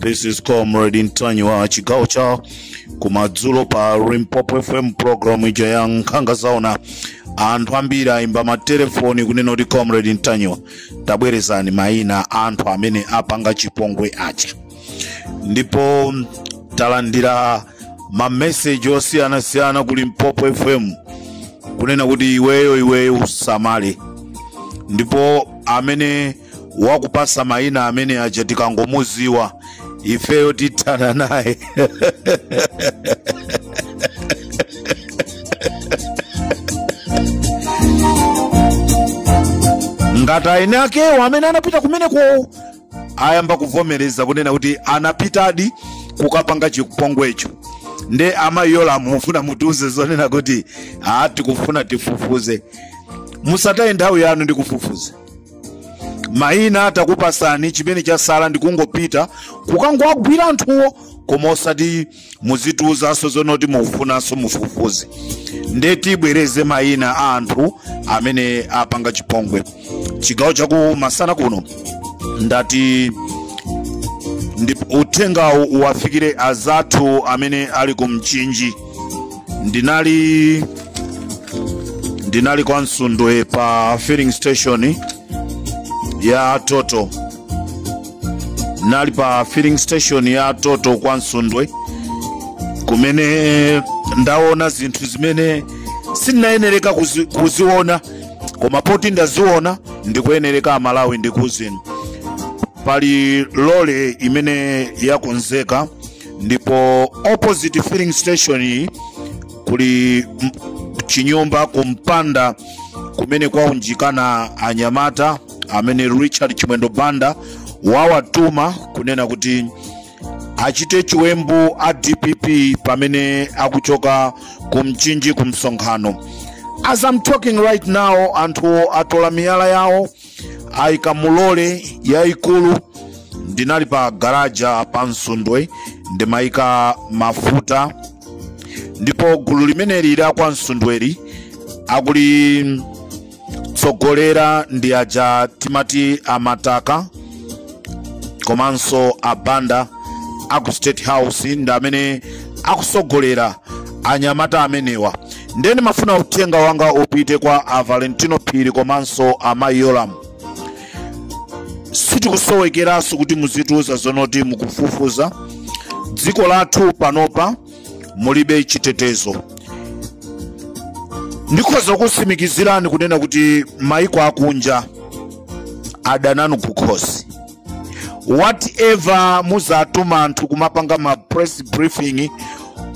This is Comrade Ntanyiwa chigawo cha kumadzulo pa Limpopo FM program ija ya nkhanga zaona anthu ambiri ayimba matelefoni kunena kuti Comrade Ntanyiwa tabwerezani mayina anthu amene apanga chipongwe aja ndipo talandira mameseji osiyanasiyana ku Limpopo FM kunena kuti iweyo iweyo usamale ndipo amene wakupasa maina amene aja tikangomuziwa ifeyo tithana naye ngati eni akewo amene anapita kumeneko ayamba kuvomereza kunena kuti anapitadi kukapanga chipongwecho nde amayi yolamu mufuna mutiuze zonena kuti aa tikufuna tifufuze musataye nthawi yanu ndikufufuza mayina takupasani chimene chasala ndikungopita kukangowagwira anthuwo koma osati muzitiuzanso zonoti mukufunanso mufufuze nde tibwereze mayina a anthu amene apanga chipongwe chigawo chaku masana kuno ndati uthengawu uwafikire azathu amene ali ku mchinji ndinali ndinali kwa msundwe pa filling station ya Total ndinali pa filling station ya Total kwa msundwe kumene ndaona zinthu zimene sindinayenereka kuziona koma poti ndaziona ndikuyenereka amalawi ndikuuzeni pali lole imene yakonzeka ndipo opposite filling station kuli chinyumba kumpanda kumene kwaunjikana anyamata amene richard chimwendo banda wawatuma kunena kuti achite chiwembu a dpp pamene akuchoka ku mchinji ku msonkhano as i'm talking right now anthu atola miyala yawo ayika mu lole yayikulu ndinali pa garaja pa msundwe ndimayika mafuta ndipo gulu limeneli la kwa msundweli akulitsogolera ndi aja timati amataka komanso a banda aku state house ndi amene akusogolera anyamata amenewa ndiye ndimafuna uthenga wanga upite kwa a valentino phiri komanso a mayi yolamu sizikusowekeranso kuti muzitiuza zonoti mukufufuza dziko lathu panopa mulibe chitetezo ndikhoza kutsimikizirani kunena kuti maiko akunja adana nanu kukhosi whatever muzatuma anthu kumapanga ma press briefing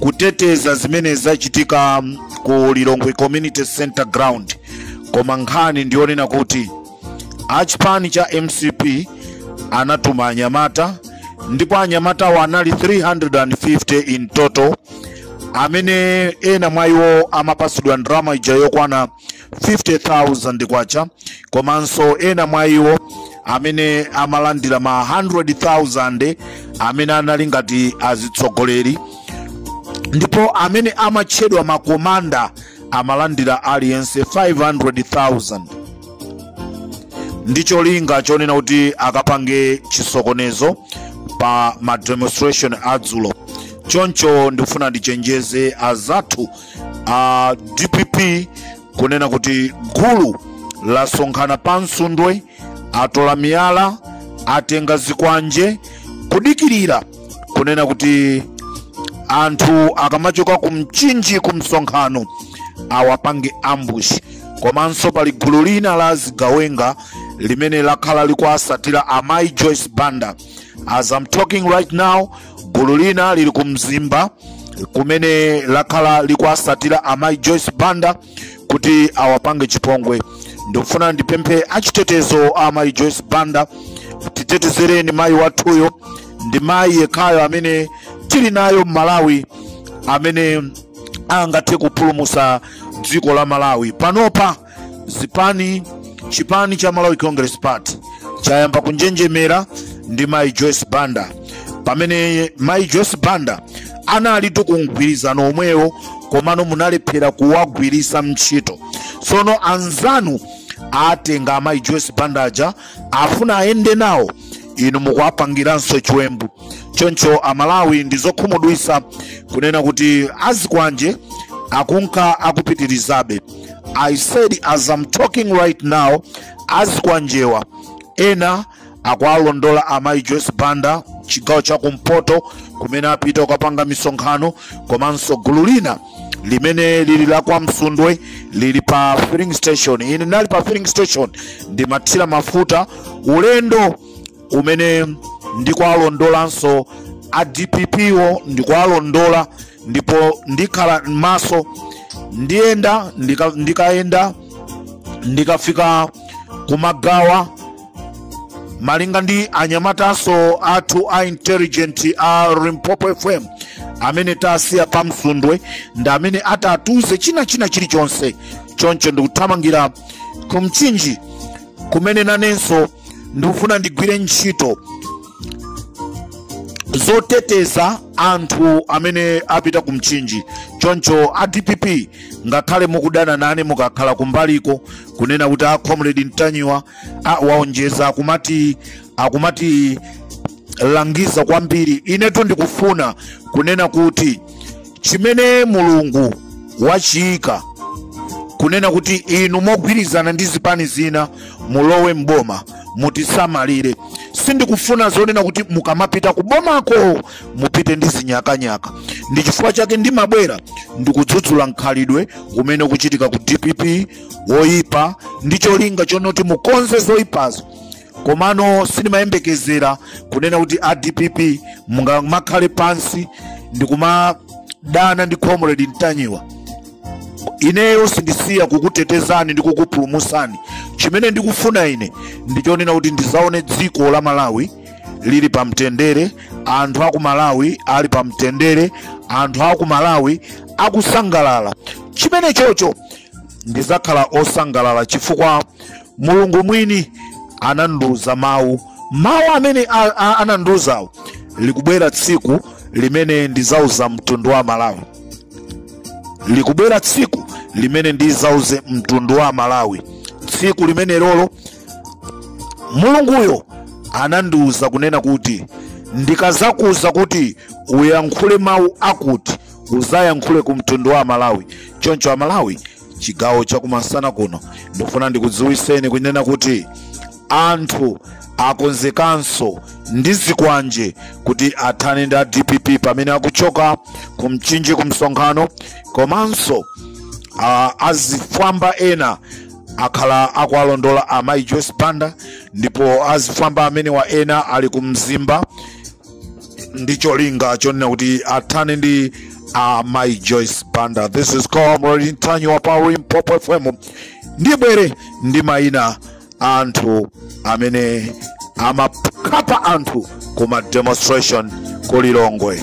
kuteteza zimene zachitika ku lilongwe community center ground koma nkhani ndiyonena kuti a chipani cha mcp anatuma anyamata ndipo anyamatawo anali 350 in total amene ena mwa iwo amapasidwa ndalama ija yokwana 50000 kwacha komanso ena mwa iwo amene amalandira ma 100000 amene anali ngati azitsogoleri ndipo amene amatchedwa makomanda amalandira aliyense 500,000 ndi cholinga chonena kuti akapange chisokonezo pa ma demonstration adzulo choncho ndikufuna ndichenjeze azathu a dpp kunena kuti gulu lasonkhana pa msundwe atola miyala atenga zikwanje kudikirira kunena kuti anthu akamachoka ku mchinji ku msonkhano awapange ambush komanso pali gulu lina la zigawenga limene lakhala likuasatira amayi joyce banda as i'm talking right now gulu lina lili ku mzimba kumene lakhala likuasatira amayi joyce banda kuti awapange chipongwe ndikufuna ndipemphe achitetezo a mayi joyce banda titetezereni mayi wathuyo ndi mayi yekhayo amene tili naye m'malawi amene angathe kupulumusa dziko la malawi panopa zipani chipani cha malawi congress party chayamba kunjenjemera ndi mayi joyce banda pamene mayi joyce banda analitu ku mgwirizano womwewo komano munalephera kuwagwirisa ntchito tsono anzanu atenga amayi joyce banda aja afuna ayende nawo inu mukuwapangiranso chiwembu choncho amalawi ndi zokhumudwisa kunena kuti azikwanje akunka akupitirizabe i said as i'm talking right now azikwanjewa ena akuwalondola amayi joyce banda chigawo cha kumpoto kumene apita kukapanga misonkhano komanso gulu lina limene lili la kwa msundwe lili pa filling station ine nali pa filling station ndimathira mafuta ulendo umene ndikuwalondolanso a dpp wo ndikuwalondola ndipo ndikhala maso ndiyenda ndikayenda ndikafika kumagawa malinga ndi anyamataso athu a intelligent a limpopo fm amene tasiya pa msundwe ndi amene atatuze china china chilichonse choncho ndikuthamangira ku mchinji kumene nanenso ndikufuna ndigwire ntchito zoteteza anthu amene apita ku mchinji choncho a dpp ngakhale mukudana nane mukakhala kumbaliko kunena kuti a comrade ntanyiwa a waonjeza akumati akumatilangiza kwambiri inetu ndikufuna kunena kuti chimene mulungu wachiyika kunena kuti inu mogwirizana ndi zipani zina mulowe mboma mutisamalire sindikufuna zonena kuti mukamapita kubomako mupite ndi zinyakanyaka ndi chifukwa chake ndimabwera ndikudzudzula mkhalidwe umene ukuchitika ku dpp woyipa ndi cholinga chonoti mukonze zoyipazo komano sindimayembekezera kunena kuti a dpp mungamakhale pansi ndikumadana ndi comrade ntanyiwa ineyo sindisiya kukutetezani ndi kukupulumusani chimene ndikufuna ine ndichonena kuti ndizaone dziko la malawi lili pa mtendere anthu aku malawi ali pa mtendere anthu aku malawi akusangalala chimene chocho ndidzakhala osangalala chifukwa mulungu mwini anandiuza mawu mawu amene a- a- anandiuzawo likubwera tsiku limene ndizauza mtundu wa malawi likubwera tsiku limene ndizauze mtundu wa amalawi tsiku limene lolo mulunguyo anandiuza kunena kuti ndikazakuuza kuti uyankhule mawu akuti uzayankhule ku mtundu wa amalawi choncho amalawi chigawo chakumasana kuno ndikufuna ndikudziwiseni kunena kuti anthu akonzekanso ndi zikwanje kuti athane ndi a dpp pamene akuchoka ku mchinji ku msonkhano komanso uh, azifwamba ena akhala akuwalondola amai joyce banda ndipo azifwamba amenewa ena ali ku mzimba ndi cholinga chonena kuti athane ndi amai joyce banda this is comrade ntanyiwa pa limpopo fm ndibwere ndi mayina a anthu amene amakhapa anthu ku ma demonstration ku lilongwe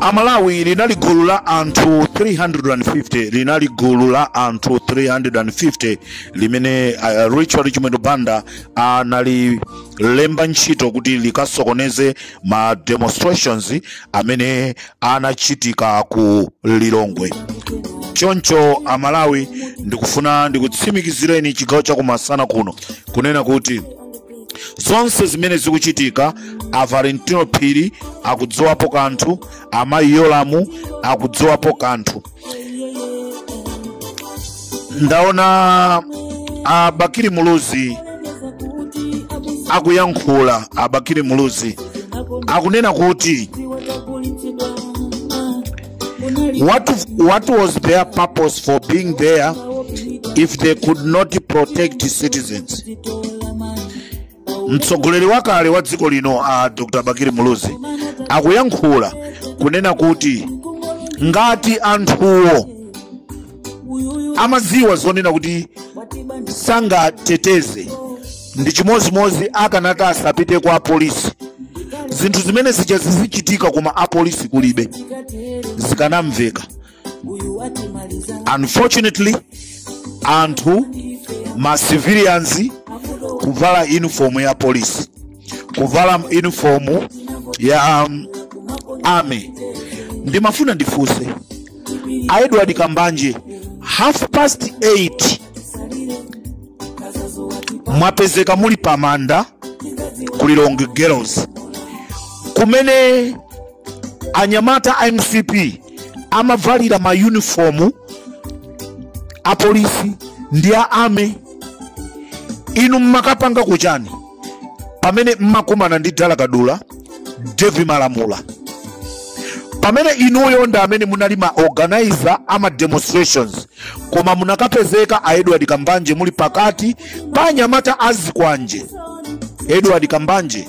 amalawi linali gulu la anthu 350 linali gulu la anthu 350 limene uh, richard chimwendo banda anali lemba ntchito kuti likasokoneze ma demonstrations amene anachitika ku lilongwe choncho amalawi ndikufuna ndikutsimikizireni chigawo chakumasana kuno kunena kuti zonse zimene zikuchitika a valentino phiri akudziwapo kanthu amayi yolamu akudziwapo kanthu ndaona a bakili muluzi akuyankhula a bakili muluzi akunena kuti what was their purpose for being there if they could not protect citizens mtsogoleri wakale wa dziko lino a dr bakili muluzi akuyankhula kunena kuti ngati anthuwo amadziwa zonena kuti sangateteze ndi chimodzimodzi akanati asapiteko apolisi zinthu zimene zija zizichitika koma apolisi kulibe zikanamveka unfortunately anthu ma civilians kuvala uniform ya polisi kuvala uniform ya um, army ndimafuna ndifunse a edward kambanje half past 8 mwapezeka muli pamanda ku lilongwe girls kumene anyamata a mcp amavalira ma uniform a polisi ndi a army inu mmakapanga kuchani pamene mmakumana ndi dalakadula devi malamula pamene inuyo ndi amene munali ma organizer a ma demonstrations koma munakapezeka a edward kambanje muli pakati pa anyamata azikwanje edward kambanje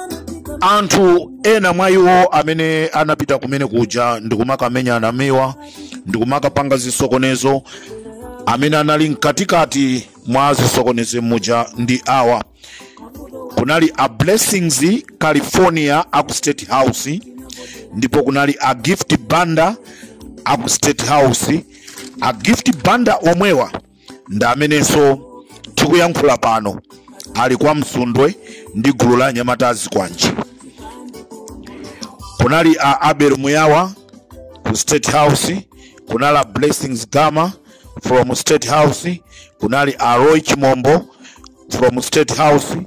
anthu ena mwa iwo amene anapita kumene kuja ndikumakamenya anamiwa ndikumakapanga zisokonezo amene anali mkatikati mwa zisokonezo muja ndi awa kunali a blessings california aku state house ndipo kunali a gift banda aku state house a gift banda omwewa ndi amenenso tikuyankhula pano ali kwa msundwe ndi gulu la anyamata a zikwanje kunali a abel muyawa ku state house kunali a blessings gama from state house kunali a roy chimombo from state house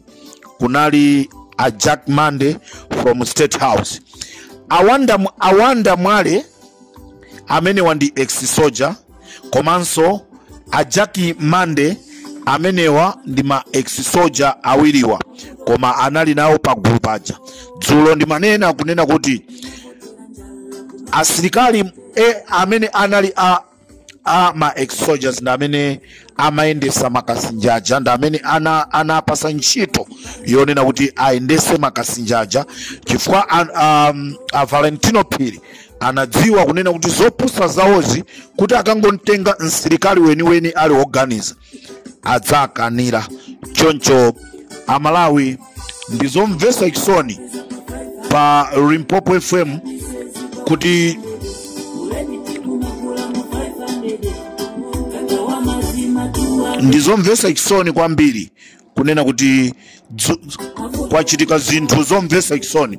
kunali a jack mande from state house awanda, awanda mwale amenewa ndi ex soldier komanso a jack mande amenewa ndi ma ex soldier awiriwa koma anali nawo pa gulu paja dzulo ndimanena kunena kuti asilikali e, amene anali a, a ma ex soldiers ndi amene amayendetsa akasinja aja ndi amene ana, anapatsa ntchito yonena kuti ayendetse akasinja aja chifukwa an- um, a valentino phiri anadziwa kunena kuti zopusa zawozi kuti akangomtenga msilikali weniweni ali woganiza adzakanira choncho amalawi ndi zomvetsa chisoni pa limpopo fm kuti ndi zomvetsa chisoni kwambiri kunena kuti dzu- dzu- kwachitika zinthu zomvetsa chisoni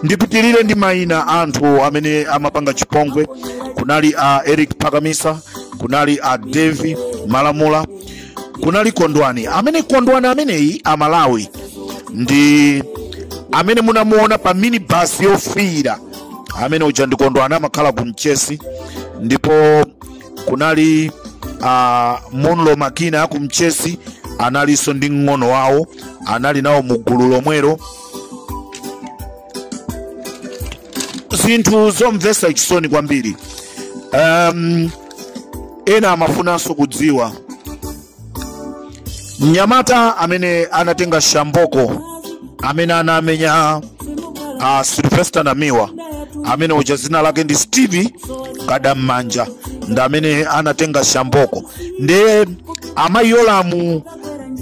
ndipitirire ndi mayina a anthu amene amapanga chipongwe kunali a eric phakamisa kunali a davie malamula kunali kondwani amene kondwani ameneyi amalawi ndi amene munamuona pa minibasi yofiira amene uja ndi kondwani amakhala ku mchesi ndipo kunali uh, munlo makina aku mchesi analinso ndi mng'ono wawo anali nawo mu gulu lomwelo zinthu zomvetsa chisoni kwambiri um, ena amafunanso kudziwa mnyamata amene anatenga shamboko amene anamenya uh, sylvester namiwa amene uja dzina lake ndi steve kadammanja ndi amene anatenga shamboko ndiye amayi yolamu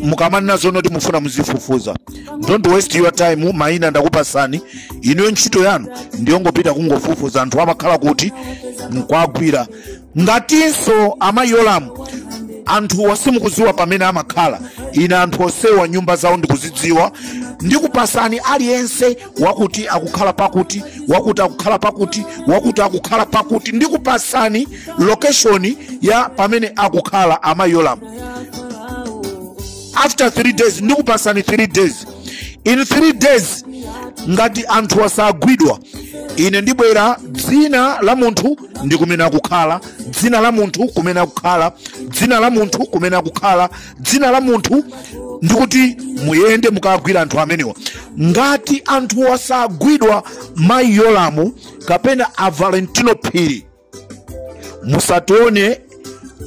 mukamanena zonena kuti mufuna muzifufuza don't waste your time mayina ndakupatsani inuyo ntchito yanu ndiyongopita kungofufuza anthu amakhala kuti nkuwagwira ngatinso amayi yolamu anthuwa simukudziwa pamene amakhala ine anthu onsewa nyumba zawo ndikuzidziwa ndikupatsani aliyense wakuti akukhala pakuti wakuti akukhala pakuti wakuti akukhala pakuti ndikupatsani location ya pamene akukhala amayi yolamu after three days ndikupatsani three days in three days ngati anthu asagwidwa ine ndibwera dzina la munthu ndi kumene akukhala dzina la munthu kumene akukhala dzina la munthu kumene akukhala dzina la munthu ndikuti muyende mukagwira anthu amenewa ngati anthu asagwidwa amayi Yolamu kapena a valentino phiri musatione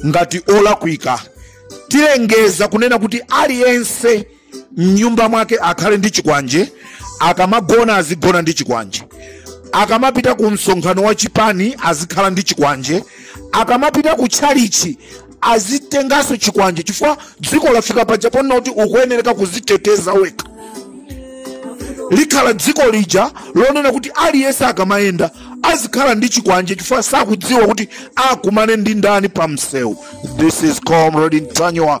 ngati olakwika tilengeza kunena kuti aliyense mnyumba mwake akhale ndi chikwanje akamagona azigona ndi chikwanje akamapita ku msonkhano wa chipani azikhala ndi chikwanje akamapita ku tchalichi azitenganso chikwanje chifukwa dziko lafika paja ponena kuti ukuyenereka kuziteteza wekha likhala dziko lija lonena kuti aliyense akamayenda azikhala ndi chikwanje chifukwa sakudziwa kuti akumane ndi ndani pa msewu this is comrade Ntanyiwa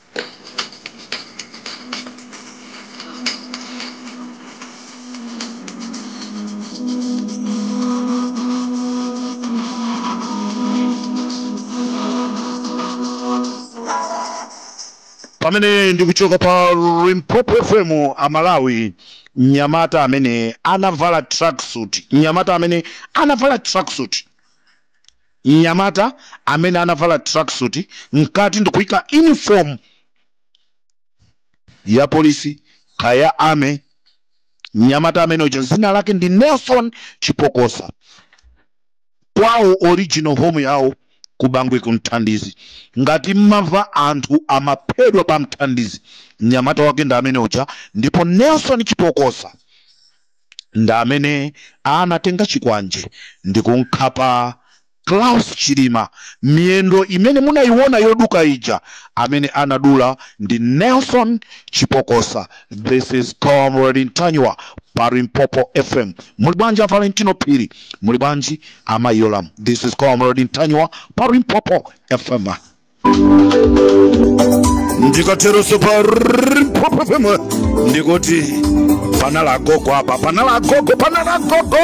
pamene ndikuchoka pa Limpopo FM amalawi mnyamata amene anavala tracksuit mnyamata amene anavala tracksuit Mnyamata amene anavala tracksuit mkati ndikuika uniform ya police kaya army, mnyamata amene uja zina lake ndi Nelson Chipokosa kwawo original home yawo ku Bangwe ku Mthandizi. Ngati mmamva anthu amaphedwa pa Mthandizi, mnyamata wake ndi amene uja ndipo Nelson Chipokosa. ndi amene anatenga chikwanje ndikumkhapa Saulos Klaus Chilima miyendo imene munayiwona yoduka ija, amene anadula ndi Nelson Chipokosa, this is Comrade Ntanyiwa pa Limpopo FM, muli bwanji a Valentino Phiri, muli bwanji a Mayi Yolamu, this is Comrade Ntanyiwa pa Limpopo FM. ndikateroso pa Limpopo FM ndikuti panali agogo apa panali agogo panali agogo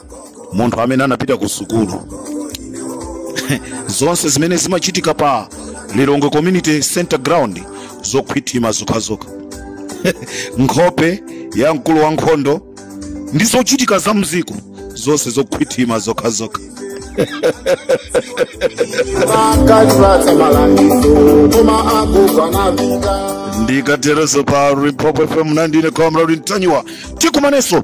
munthu amene anapita ku sukulu zonse zimene zimachitika pa lilongwe community center ground zokhwima zokhazokha nkhope ya mkulu wa nkhondo ndi zochitika za mdziko zonse zokhwima zokhazokha ndikatereso pa Limpopo FM ndine comrade ntanyiwa tikumanenso